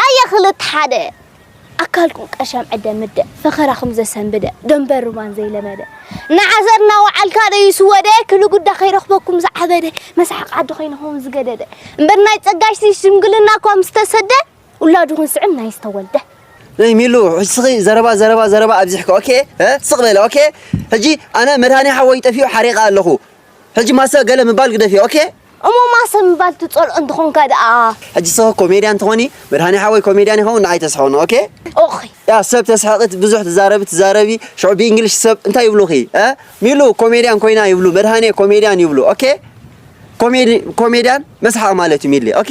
ኣየ ክልተ ሓደ ኣካልኩም ቀሻም ዕደ ምደ ፈኸራኹም ዘሰንብደ ደንበር ሩባን ዘይለመደ ንዓዘር እናወዓልካ ደዩ ስወደ ክብሊ ጉዳ ከይረኽበኩም ዝዓበደ መስሓቕ ዓዲ ኮይንኹም ዝገደደ እምበር ናይ ጸጋሽሲ ሽምግልና እኳ ምስ ተሰደ ውላዱ ክንስዕም ናይ ዝተወልደ ናይ ሚሉ ሕስኺ ዘረባ ዘረባ ዘረባ ኣብዚሕካ ኦኬ ስቕ በለ ኦኬ ሕጂ ኣነ መድሃኒ ሓወይ ጠፊኡ ሓሪቐ ኣለኹ ሕጂ ማሰ ገለ ምባል ግደፊ ኦኬ። እሞ ማሰ ምባል ትጸልኦ እንተኾንካ ደኣ ሕጂ ሰ ኮሜድያን ትኾኒ መድሃኒ ሓወይ ኮሜድያን ይኸውን ንዓይ ተስሕቕኒ ኦኬ ኦኺ። ያ ሰብ ተስሕቒ ብዙሕ ትዛረቢ ትዛረቢ ሽዑ ብእንግሊሽ ሰብ እንታይ ይብሉኺ እ ሚሉ ኮሜድያን ኮይና ይብሉ መድሃኒየ ኮሜድያን ይብሉ ኦኬ ኮሜዲ ኮሜድያን መስሓቕ ማለት እዩ ሚሊ ኦኬ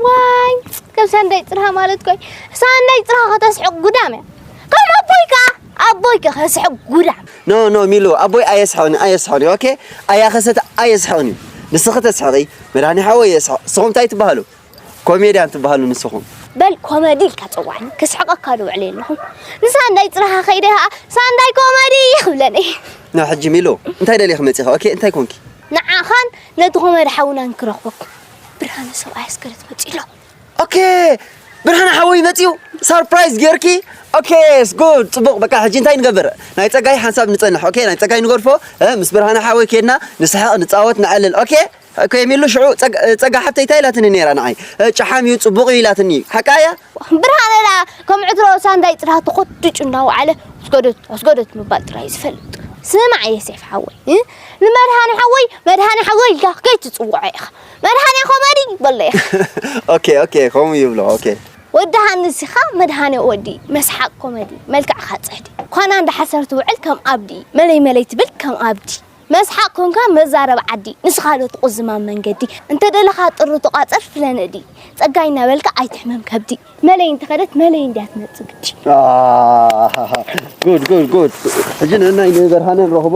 ዋይ ከም ሰንደይ ጽርሃ ማለት ኮይ ሰንደይ ጽርሃ ከተስሕቕ ጉዳም እያ ከም ኣቦይ ከኣ ኣቦይ ከ ከስሕቕ ጉዳም No no ሚሉ ኣቦይ ኣየስሕቕን'ዩ ኣየስሕቕን'ዩ ok ኣያ ከሰተ ኣየስሕቕን'ዩ ንስኺ ተስሕቒ መድሃኔ ሓወይ የስሕቕ ንስኹም ታይ ትበሃሉ ኮሜድያን ትበሃሉ ንስኹም። በል ኮመዲ ኢልካ ጸዋዕኒ ከስሕቐካ ዶ ውዕለ ኣለኹ ንሳንዳይ ጽረኻ ከይደ ከኣ ሳንዳይ ኮመዲ ክብለኒ። No ሕጂ ሚሉ እንታይ ደሊኺ መጺኺ ok እንታይ ኮንኪ? ንዓኻን ነቲ ኮመዲ ሓውናን ክረኽቦ ብርሃነ ሰብኣይ ኣስገረት መጺኡ ኣሎ። ኦኬ ብርሃነ ሓወይ መፅኡ ሳርፕራይዝ ጌርኪ ኦኬ ስጉድ ፅቡቅ በቃ ሕጂ እንታይ ንገብር ናይ ፀጋይ ሓንሳብ ንፀንሕ ኦኬ ናይ ፀጋይ ንገርፎ ምስ ብርሃነ ሓወይ ኬድና ንስሕቅ ንፃወት ንዕልል ኦኬ ኦኬ የሚሉ ሽዑ ፀጋ ሓፍተይ እንታይ ኢላትኒ ነይራ ንዓይ ጨሓም እዩ ፅቡቅ እዩ ኢላትኒ ሓቃ እያ ብርሃነ ዳ ከም ዕትሮ ሳንዳይ ፅራህ ተኮድጩ እናወዓለ ኣስገደት ኣስገደት ምባል ጥራይ እዩ ዝፈልጥ ስማዕ የሴፍ ሓወይ ንመድሃኒ ሓወይ መድሃኒ ሓወይ ኢልካ ከይትፅውዖ ኢኻ መድሃኔ ኮመዲ በሎ ኢኻ ኦኬ ኦኬ ከምኡ ይብሎ ኦኬ ወዲ ሃንስ ኢኻ መድሃኔ ወዲ መስሓቅ ኮመዲ መልክዕኻ ጽሕዲ ኳና እንዳሓሰር ትውዕል ከም ኣብዲ መለይ መለይ ትብል ከም ኣብዲ መስሓቅ ኮንካ መዛረብ ዓዲ ንስኻ ዶ ትቑዝም ኣብ መንገዲ እንተደለኻ ጥሪ ተቋጽር ፍለ ነዲ ጸጋይ እናበልካ ኣይትሕመም ከብዲ መለይ እንተኸደት መለይ እንድያ ትመጽእ ግዲ ኣሃሃሃ ጉድ ጉድ ጉድ ሕጂ ንእናይ ንበርሃነ ንረኽቦ